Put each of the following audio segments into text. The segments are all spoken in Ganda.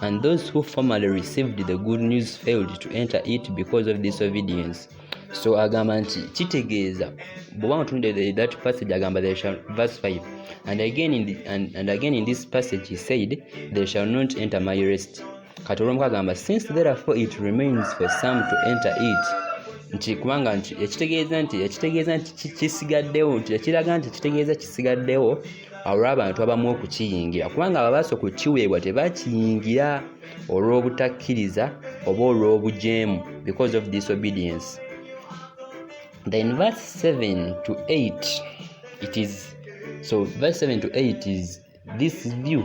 And those who formerly received the good news failed to enter it because of disobedience. So agamba nti kitegeeza bwoba mutunde that passage agamba they shall verse 5 and again in the, and, and again in this passage he said they shall not enter my rest kati olwomu kagamba since therefore it remains for some to enter it nti kubanga nti ekitegeeza nti ekitegeeza nti kisigaddewo nti ekiraga nti ekitegeeza kisigaddewo olw'abantu abamu okukiyingira kubanga ababaasa okukiweebwa tebakiyingira olw'obutakkiriza oba olw'obujeemu because of disobedience then verse 7 to 8 it is so verse 7 to 8 is this view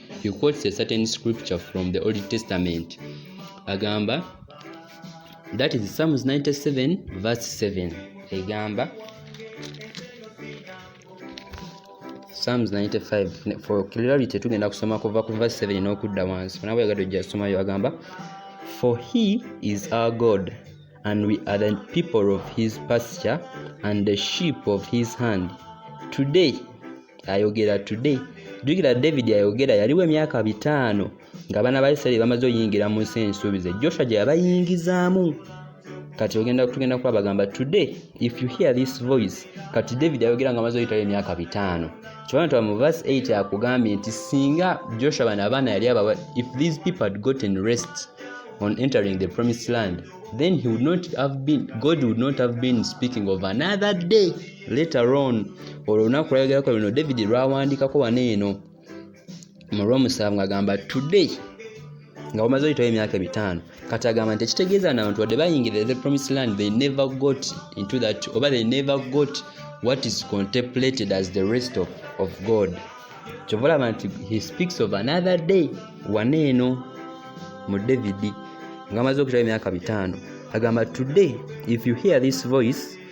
he quotes a certain scripture from the old testament agamba that is psalms 97 verse 7 egamba psalms 95 for clarity tugenda kusoma kuva ku verse 7 n'okudda wansi onaba yagadde ojja somayo agamba for he is our god and we are the people of his pasture and the sheep of his hand today ayogera today jukira david ayogera yaliwo emyaka bitaano nga abaana ba isiraeri bamaze oyingira mu nsi ensuubize joshua gye yabayingizaamu kati ogenda tugenda kuba bagamba today if you hear this voice kati david ayogera nga maze oyitayo emyaka bitaano kyobana tuba mu verse 8 akugambye nti singa joshua bana abaana yali abawa if these people had gotten rest on entering the promised land then he would not have been god would not have been speaking of another day later on olwo olunaku lwayogerako luno david lwawandikako wano eno mu lwomusanvu ngagamba today nga bamaze oyitawo emyaka ebitaano kati agamba nti ekitegeeza na bantu wadde bayingirira the promise land they never got into that oba they never got what is contemplated as the rest of, of god kyova olaba nti he speaks of another day wana eno mu david nga amaze okutawo emyaka bitaano agamba today if you hear this voice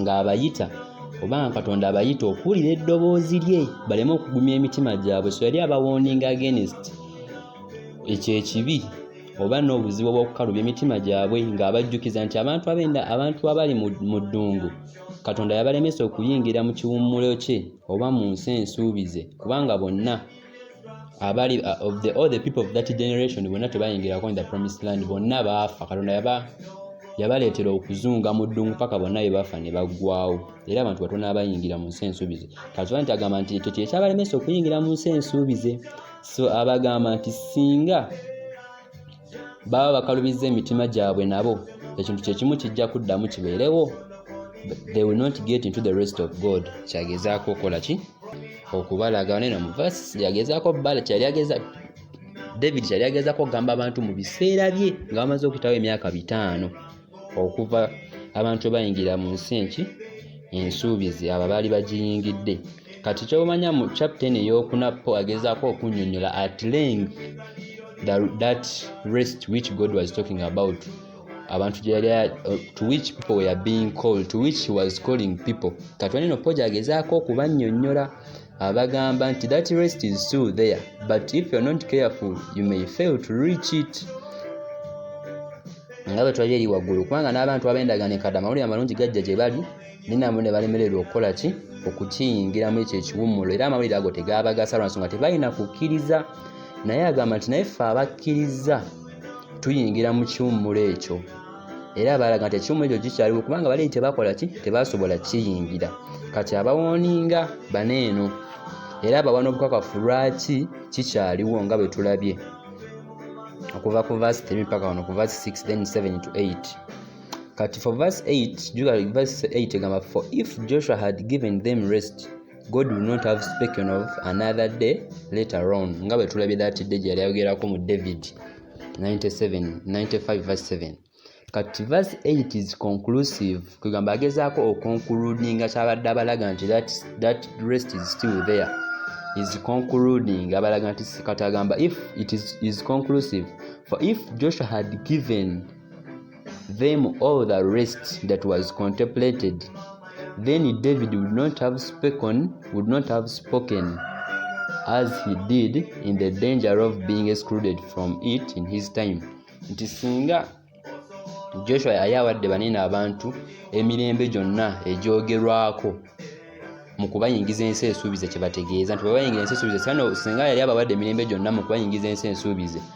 ng'abayita oba nga katonda abayita okuwulira eddoboozi lye baleme okugumya emitima gyabwe so yali abawooninga agenist ekyo ekibi oba n'obuzibu obw'okukalubya emitima gyabwe ng'abajjukiza nti abantu abenda abantu abali mu ddungu katonda yabalemesa okuyingira mu kiwummulo kye oba mu nsi ensuubize kubanga bonna abali uh, of the all the people of that generation bonna tebayingirako in the promised land bonna baafa katonda yaba yabaleetera okuzunga mu ddungu paka bonna be bafa ne baggwawo era abantu batono abayingira mu nsi ensuubize katonda nti agamba nti ekyo kyekyabalemesa okuyingira mu nsi ensuubize so abagamba nti singa baba bakalubizza emitima gyabwe nabo ekintu kyekimu kijja kuddamu kibeerewo they will not get into the rest of god kyagezaako okola ki okubalaga neno muvasi yagezaako bala kyali ageza david kyali agezaako okugamba abantu mu biseera bye nga bamaze okutawo emyaka bitaano okuva abantu bayingira mu nsi enki ensuubizi abo baali bagiyingidde kati kyomanya mu captain eyokuna po agezaako okunyonyola at length that rest which god was talking about abantu gyeyali to which people were being called to which he was calling people kati waneno po gyagezaako okubanyonyola abagamba nti that rest is still there but if you're not careful you may fail to reach it nga bwe twali eri waggulu kubanga n'abantu abendaga ne kadama wulira amalungi gajja gye bali ninabo ne balemererwa okukola ki okukiyingiramu ekyo ekiwummulo era amawulire ago tegaabagasa lwa nsonga tebalina kukkiriza naye agamba nti naye ffe abakkiriza tuyingira mu kiwummulo ekyo era baalaga nti ekimu ekyo kikyaliwo kubanga bali tebakola ki tebasobola kiyingira kati abawooninga bana eno era abawa n'obukakafu lwaki kikyaliwo nga bwe tulabye okuva ku vasi 3 paka wano ku vasi 6 then 7 to 8 kati for vasi 8 juga vasi 8 egamba for if joshua had given them rest god will not have spoken of another day later on nga bwe tulabye that day gye yali ayogerako mu david 97 95 verse 7 kati verse 8 is conclusive kwegamba agezaako okonkuludinga kyabadde abalaga nti that, that rest is still there is concluding abalaga nti kati agamba if it is, is conclusive for if joshua had given them all the rest that was contemplated, then David would not have spoken, would not have spoken as he did in the danger of being excluded from it in his time. Nti singa Joshua yali awadde banene abantu emirembe gyonna egyogerwako mu kubayingiza ensi ensuubize kye bategeeza nti bwe bayingira ensi ensuubize singa yali abawadde emirembe gyonna mu kubayingiza ensi ensuubize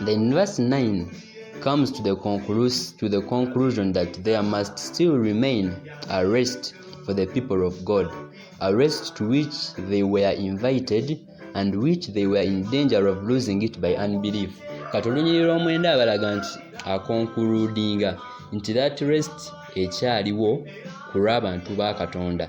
The verse 9 comes to the, conclus- to the conclusion that there must still remain a rest for the people of God, a rest to which they were invited and which they were in danger of losing it by unbelief. kati olunyiriri lw'omwenda abalaga nti akonkuludinga nti that rest ekyaliwo ku lw'abantu ba katonda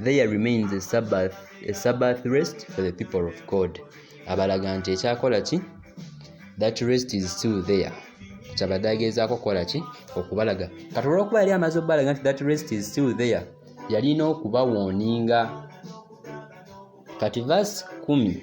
there remains a sabbath, a sabbath rest for the people of god abalaga nti ekyakola ki that rest is still there kyabadde ageezaako okukola ki okubalaga kati olwokuba yali amaze okubalaga nti that rest is still there yalina okubawooninga kati vas kumi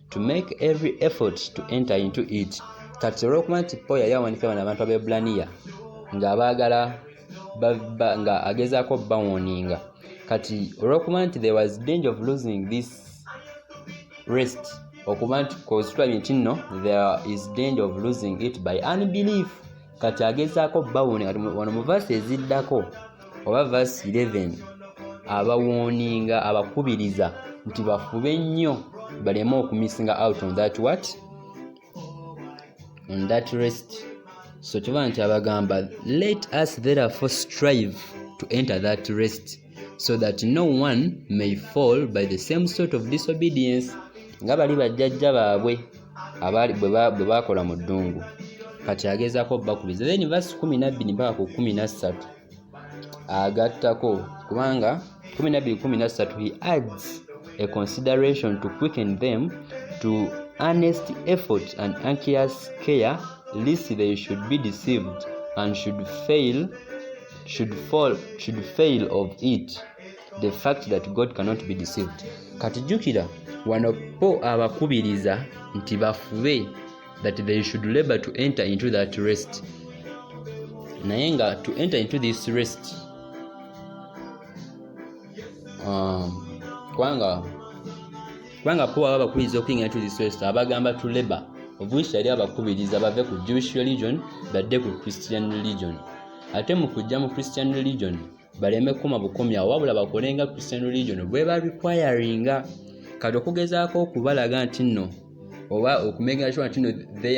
to make every effort to enter into it kati olwokuba nti paul yali awanika bano abantu abeebulaniya ng'abaagala nga agezaako bawoninga kati olwokuba nti there was danger of losing this rest okuba nti kozitulabye nti nno there is danger of losing it by unbelief kati agezaako bawone kati wano mu vasi eziddako oba vasi 11 abawooninga abakubiriza nti bafube nnyo baleme okumisinga out on that what on that rest so kiba nti abagamba let us therefore strive to enter that rest so that no one may fall by the same sort of disobedience nga bali bajjajja baabwe bwe baakola mu ddungu kati agezaako bakubiriza then vasi kumi nabbiri mpaka ku kumi nassatu agattako kubanga kumi nabbiri kumi nassatu he adds a consideration to quicken them to earnest effort and anxious care lest they should be deceived and should fail should fall should fail of it the fact that god cannot be deceived kati jukira wano po abakubiriza nti bafube that they should labor to enter into that rest naye nga to enter into this rest um, kubanga kubanga po aba bakubiriza okuyingira into this rest abagamba to labor obwisi yali abakubiriza bave ku jewish religion badde ku christian religion ate mu kujja mu christian religion baleme kukuma bukomyawo wabula bakole nga christian religion bweba requiringa kati okugezaako okubalaga nti nno oba okumekinga sure nti nno